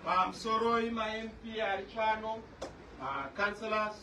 Pamsoroi maMP ari pano, maCouncillors,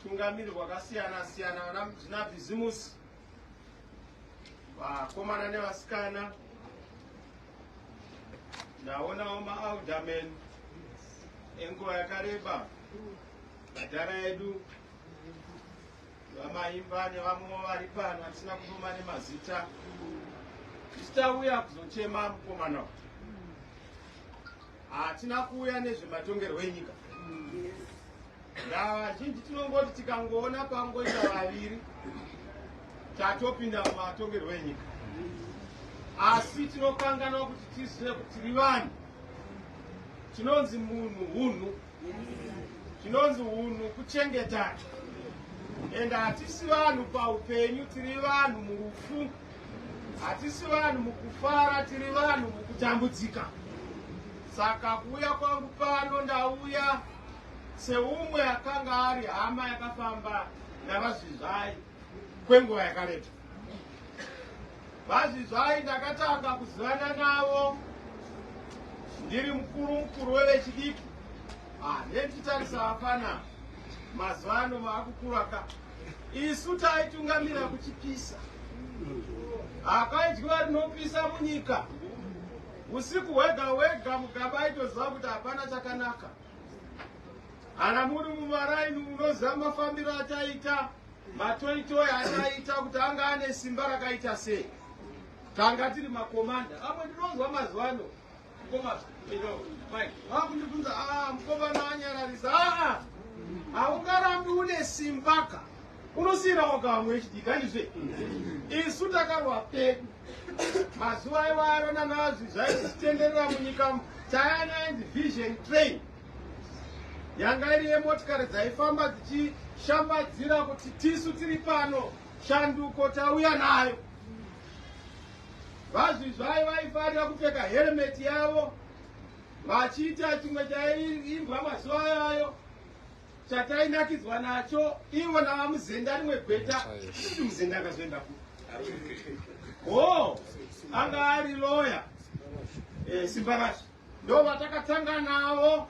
tungamiri wakasiyana siyana, vana zvina bhizimusi, vakomana nevasikana, ndaonawo maalderman enguva yakareba, madhara edu VaMaimba nevamwewo vari pano vatisina kudoma nemazita tichitauya kuzochema mukomana uyu hatina kuuya nezvematongerwo enyika ndavazhinji tinongoti tikangoona pangoita vaviri tatopinda mumatongerwo enyika asi tinokanganwa kuti tizive kuti tiri vanhu tinonzi munhu hunhu Chinonzi hunhu kuchengetana and hatisi vanhu paupenyu tiri vanhu murufu hatisi vanhu mukufara tiri vanhu mukutambudzika saka kuuya kwangu pano ndauya seumwe akanga ari hama yakafamba navazvizvai kwenguva yakareba. VaZvizvai ndakatanga kuzivana navo ndiri mukuru mukuru wevechidiki. Ah, netitarisa hapana mazuva ano maakukura ka isu taitungamira kuchipisa hakaidyiwa rinopisa munyika usiku hwega hwega mugaba aitoziva kuti hapana chakanaka Kana muri mumaraini munoziva mafambiro ataita matoitoi ataita kuti anga ane simba rakaita sei tanga tiri makomanda amwe ndinonzwa mazuva ano vakundibvunza ah, mukomana anyararisa aa haungarambi une simbaka unosiyirawo kamwe chidika ndizve isu takarwa pedu Mazuva iwayo rona nazvi zvaizitenderera munyika chayana ainzi vision train yanga iri yemotikari dzaifamba dzichishambadzira kuti tisu tiri pano shanduko tauya nayo vazvizvai vaifarira kupfeka heremeti yavo vachiita chimwe chaiimbwa mazuva ayayo chatainakidzwa nacho ivo navamuzenda rimwe gweta ii muzenda akazoenda ku ho anga ari loya e, eh, simbarasha ndo vatakatanga navo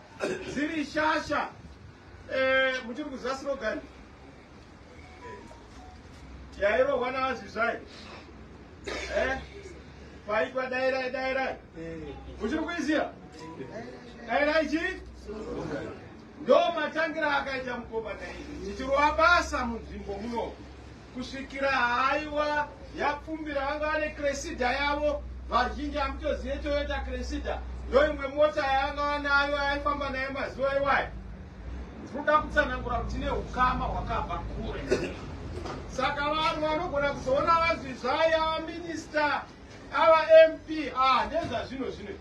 dziri shasha e, eh, muchiri kuziva slogan yairohwa navazvizvai e, eh, paitwa dairai dairai muchiri kuiziva dairai chii Ndo matangira akaita mukoma Daisy tichirova basa munzvimbo muno kusvikira haiwa yapfumbira vanga vane Cressida yavo vazhinji hamutozive Toyota Cressida ndo imwe mota yavanga vanayo yaifamba nayo mazuva iwayo tinoda kutsanangura kuti ne ukama hwakabva kure saka vanhu vanogona kuzoona vanzi zvaya minista ava mp ah ndezvazvino zvino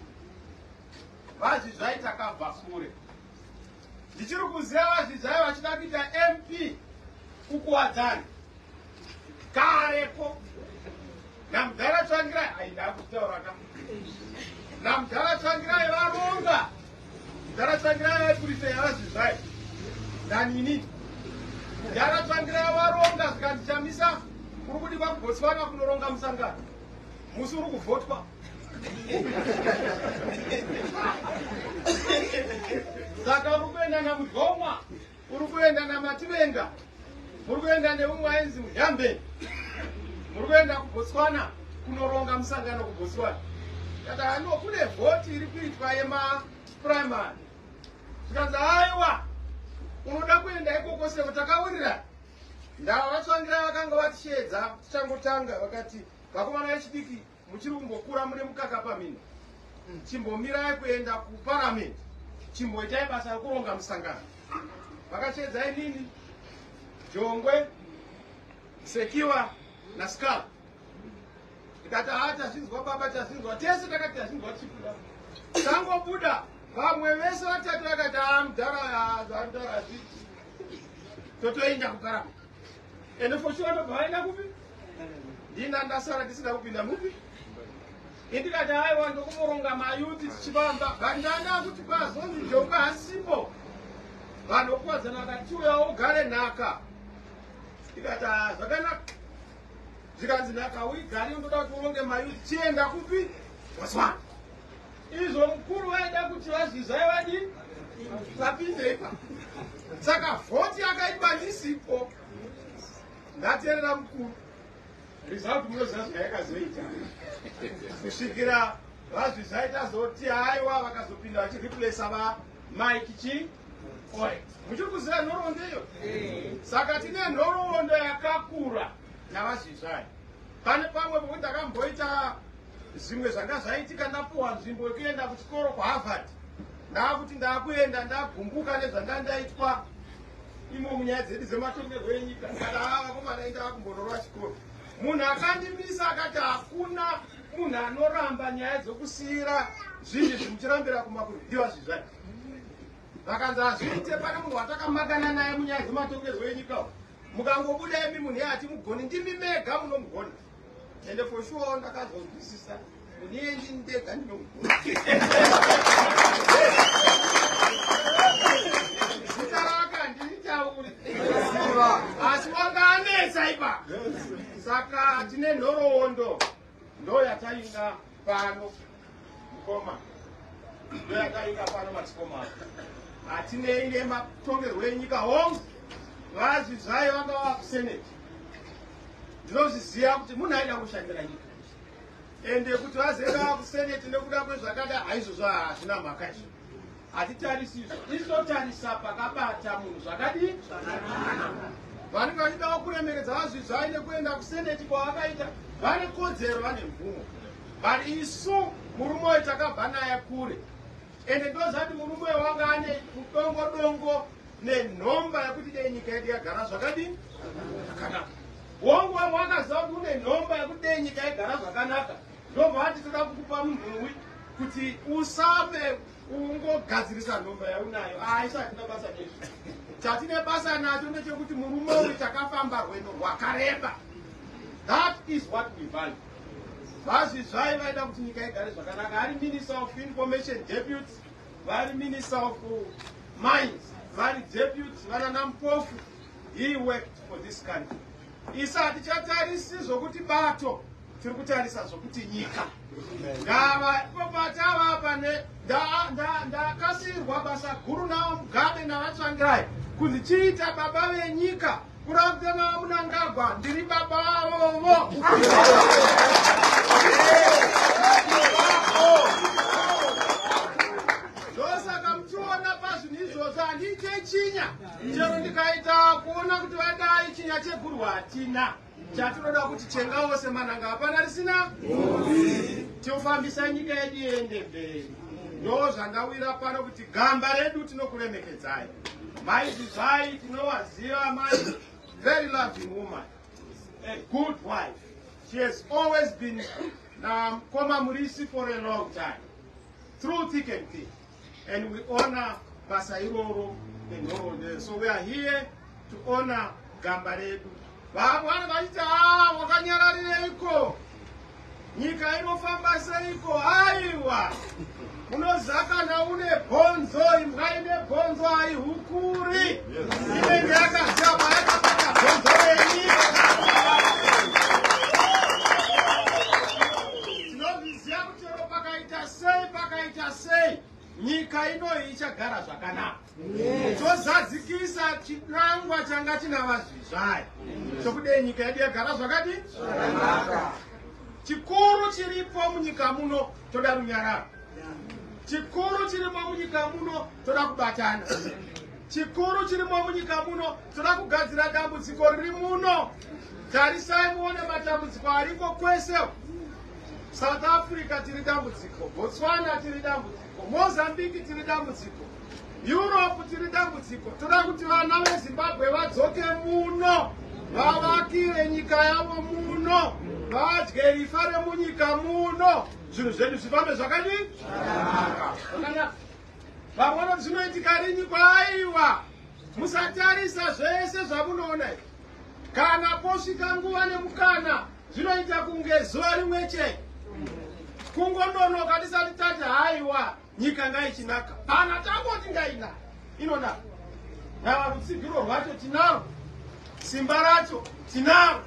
VaZvizvai takabva kure. Ndichiri kuziva VaZvizvai vachida kuita MP kukuwadzani. Kareko. Namudhara Tsvangirai aida kutaura ka. Namudhara Tsvangirai varonga. Mudhara Tsvangirai vaiburitsa yaVaZvizvai. Nanini. Mudhara Tsvangirai varonga zvikandichamisa kuri kudikwa kuBotswana kunoronga musangano. musi uri kuvhotwa saka uri kuenda namudhoma uri kuenda namativenga muri kuenda neumwe ainzi muyambe muri kuenda kubotswana kunoronga musangano kubotswana kata hano kune vhoti iri kuitwa yemaprimary zvikanzi aiwa unoda kuenda ikoko seko takawirira ndava vatsvangira vakanga vatisheedza tichangotanga vakati Vakomana vechidiki muchiri kungokura mune mukaka pamhino. Chimbomirai kuenda kuparamende. Chimboitai basa rekuronga musangano. Vakachedza inini Jongwe Sekiwa na Skal. Ndikati haa tazvinzwa baba tazvinzwa tese takati tazvinzwa tichibuda. Tangobuda vamwe vese vatatu vakati haa mudhara haa mudhara zvii. Totoenda kuparamende. ende for sure ndobva vaenda kupi ndina ndasara ndisina kupinda mupi indikati aiwa ndokumoronga mayuti tichivamba but ndanda kuti kwazonzi njoka hasipo vanhu vokuwadzana vakati uyawo ugare nhaka ndikati ah, zvakanaka zvikanzi nhaka uigari ndoda kuti uronge mayuti chienda kupi waswana Izvo mukuru vaida kuti vazvizai vadii vapinde ipa saka vhoti yakaitwa ndisipo ndaterera mukuru result munoziva zvayakazoita kusvikira vazvizai tazoti haiwa vakazopinda vachireplasa va mike chi oe muchiri kuziva nhoroondo iyo saka tine nhoroondo yakakura navazvizvai pane pamwe pokuti akamboita Zvimwe zvanga zvaitika ndapuwa nzvimbo yekuenda kuchikoro kuHarvard. Ndaakuti ndaakuenda ndagumbuka nezvanga ndaitwa imo munyaya dzedu dzematongerwo enyika. Ndikada haa vakomana enda vakumbonorwa chikoro. Munhu akandimisa akati hakuna munhu anoramba nyaya dzokusiira zvinhu izvi muchirambira kumakuru ndiwa zvizvai. Vakanzi hazviite pane munhu watakamakana naye munyaya dzematongerwo enyika. Mukangobuda imi munhu yati mugoni ndimi mega munomugona. ende for sure ndakazonzwisisa kunengi ndega ndinomuona asi wanga anetsa ipa saka tine nhoroondo ndoyatainga Pano mukoma ndoyakaika pano madzikoma hatinei nematongerwo enyika hongu vazvi zvayo vanga vava kuseneti ndinozviziva kuti munhu aida kushandira nyika ende kuti vazevaa kuseneti nekuda kwezvakada haizvozvo hazvina mhaka izvo Hatitarisi izvo, isu totarisa pakabata munhu zvakadii zvakanaka. Vanenge vachidawo kuremeredza VaZvizvai nekuenda kuseneti kwavakaita, vane kodzero, vane mvumo, but isu murume uyu takabva naye kure, ende ndozati murume uyu wanga ane kudongo dongo nenhomba yekuti dei nyika yedu yagara zvakadii zvakanaka. Wongo wakaziva kuti une nhomba yekuti dei nyika yagara zvakanaka Ndobva ati toda kukupa munhuwi kuti usame ungogadzirisa nhomba yaunayo aisa ah, hatina basa nezvi chatine basa nacho ndechekuti murume uyu takafamba rwendo rwakareba that is what we value vazvizvai vaida kuti nyika igare zvakanaka ari minister of information deputy vari minister of mines vari deputy vanana mpofu he worked for this country isa hatichatarisi zvokuti bato tiri kutarisa zvokuti nyika ndava ipopataa pane ndakasirwa basa guru navo mugabe navatsvangirai kuti chiita baba venyika kurakute navo munangagwa ndiri baba vavovo ndosaka muchiona pazvinhu izvozvo handiite chinya chero ndikaita kuona kuti vadai chinya cheguru hatina Chatinoda kuti chenga wose mananga hapana risina tiofambisa nyika yedu yende mberi. Ndo zvandawira pano kuti gamba redu tinokuremekedzai. Mai Zizai tinowaziva mai very loving woman. A good wife. She has always been um, Koma Murisi for a long time. Through thick and thin. and we honor basa iroro nenhoroondo so we are here to honor gamba redu vabwana vachiti haa ah, wakanyararireiko nyika inofamba seiko aiwa unozakana une bhonzo imbwa ine bhonzo aihukuri inenge yakazama yakabata bhonzo renyika Chero pakaita sei pakaita sei nyika inoyi ichagara zvakanaka tozadzikisa yes. chinangwa changa china vazvizvayi chokudei nyika yedu yagara zvakadi zvakanaka chikuru chiripo munyika muno toda runyararo chikuru chirimo munyika muno toda kubatana chikuru chirimo munyika muno toda kugadzira dambudziko riri muno tarisai muone matambudziko ariko kwese South Africa tiri dambudziko, Botswana tiri dambudziko, Mozambique tiri dambudziko, Europe tiri dambudziko. Toda kuti vana veZimbabwe vadzoke muno, vavakire nyika yavo muno, vadye rifa remunyika muno, zvinhu zvedu zvifambe zvakadii? Zvakanaka. Vamwe vanoti zvinoitika rini? Kwaiwa, musatarisa zvese zvamunoona izvi, kana posvika nguva nemukana zvinoita kunge zuva rimwe chete kungononoka tisati tati haiwa nyika ngaichinaka kana tangoti ngainaka inonaka nava rutsigiro rwacho tinaro simba racho tinaro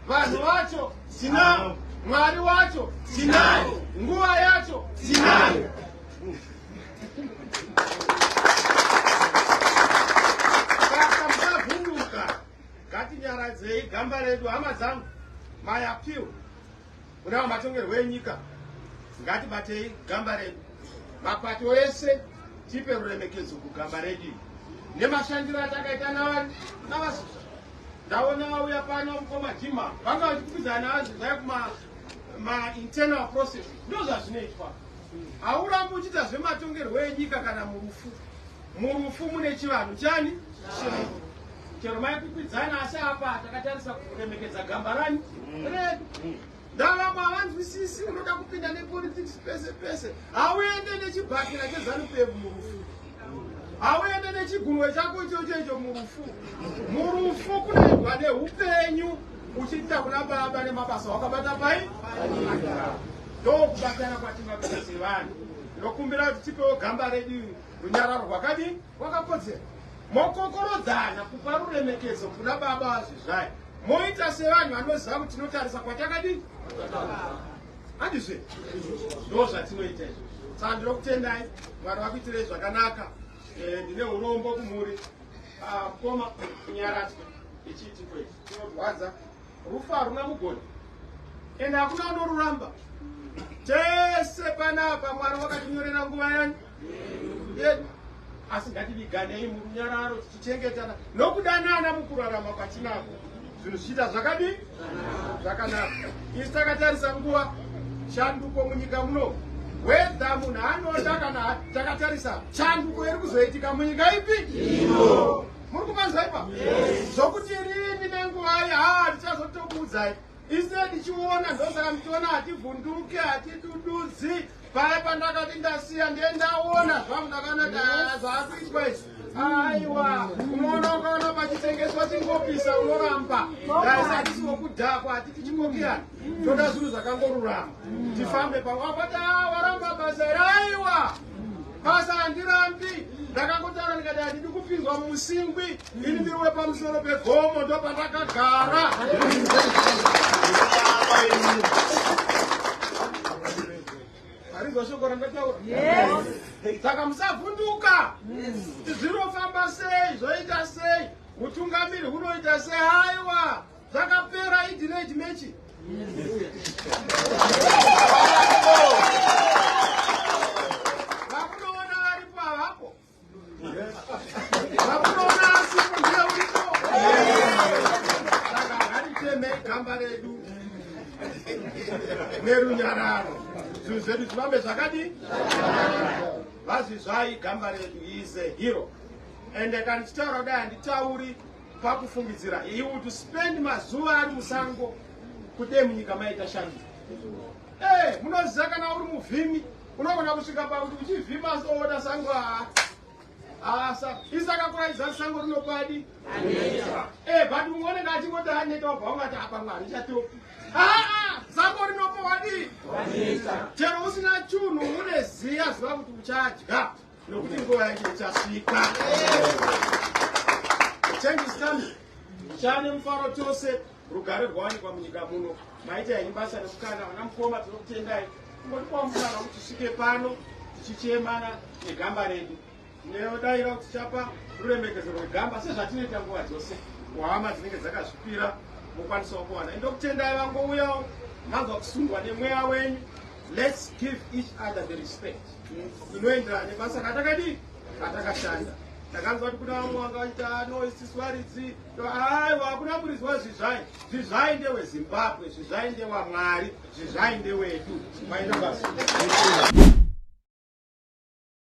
vanhu vacho tinaro mwari wacho tinaye nguva yacho tinayo Ngatinyaradzei gamba redu hama dzangu. My appeal kuna vamatongerwo enyika ngatibatei gamba redu. Mapato ese tipe ruremekedzo kugamba redu nemashandiro atakaita navani navasusa. Ndaona vauya pano mukoma Jima vanga vachikupidzana navanzi zvaya kuma ma internal process ndozvazvinoitwa. Haurambi uchiita zvematongerwo enyika kana murufu. Murufu mune chivanhu chani? Changu. Chero maikwikwidzana asi apa takatarisa kuremekedza gamba rani redu. Ndavamwe havanzwisisi unoda kupinda nepolitics pese pese. Hauende nechibhakira chezanu pevu murufu. Hauende nechigunwe chako ichocho icho murufu. Murufu kunoendwa neupenyu uchiita kuna baba nemabasa wakabata pai? Ndokubatana kwatingakuita sevanhu. Ndokumbira kuti tipewo gamba redu Runyararo rwakadii? Rwakakodzera. Mokokorodzana kupa ruremekedzo kuna baba vazvizvayo moita sevanhu vanoziva kuti tinotarisa kwatakadii handizve ndo zvatinoita izvo saka ndinokutendai mwari vakuitirei zvakanaka eh, ndine urombo kumhuri ah, mukoma kunyaradzwa ichiitiko ichi chinorwadza rufu haruna mugoni ende hakuna unoruramba tese panapa mwari wakatinyorera nguva yani yedu asi ngativiganei murunyararo tichichengetana nokudanana mukurarama kwatinako zvinhu zvichiita zvakadii zvakanaka isi takatarisa nguva shanduko munyika muno wedha munhu anoda kana takatarisa shanduko iri kuzoitika munyika ipi ino muri kuvanzwa ipa zvokuti rini nenguvai haa ndichazotokuudzai ise ndichiona ndosaka ndichiona hativhunduke hatidududzi paya pandakati ndasiya ndiye ndaona zvangu ndakanaka zvakuitwa izvi aiwa unoona ukaona pachitengeswa chingopisa unoramba daisatisiwokudhakwa hatiti chingokiyana toda zvinhu zvakangorurama tifambe pamwe apati a waramba basa iri aiwa Basa handirambi ndakangotaura ndikati handidi kupinzwa musingwi ini ndiri wepamusoro pegomo ndopandakagara harizwa shoko randataura saka musavhunduka zvinofamba sei zvoita sei utungamiri hunoita sei aiwa Zvakapera idireji mechi. nerunyararo zvinhu zvedu zvivambe zvakadi vazvizvai gamba redu is a hero ende kandichitaura kudai handitauri Pakufungidzira, he would spend mazuva ari musango kudee munyika maita shandi. Hey, eh, munoziva kana uri muvhimi unogona kusvika pakuti uchivhima asi oona sango haa asa isakakuraidza sango rinopadi eh, but mumwe unenge achingoti aneta obva ungati apa mwari chatopi aa sango rinopowadii chero usina chunhu une ziya ziva kuti uchadya Nokuti nguva yake ichasvika. Change is coming. Chane mufaro tose rugare rwawanikwa munyika muno. Maita henyu basa rekukana vana mukoma tinokutendai. Kungotipawo mukana kuti tisvike pano tichichemana negamba redu. Tinodaira kuti chapa ruremekezero rwegamba sezvatinoita nguva dzose kuhama dzinenge dzakazvipira mokwanisawo kuwana. Ndokutendai vangouyawo manzwa kusungwa nemweya wenyu. Let's give each other the respect. zvinoenderana nebasa katakadii katakashanda ndakanzwa kuti kuna vamwe vanga vaita ah, no isiswaridzi aiwa hakuna kurizwa zvizvai zvizvai ndewezimbabwe zvizvai ndewamwari zvizvai ndewedu maina basa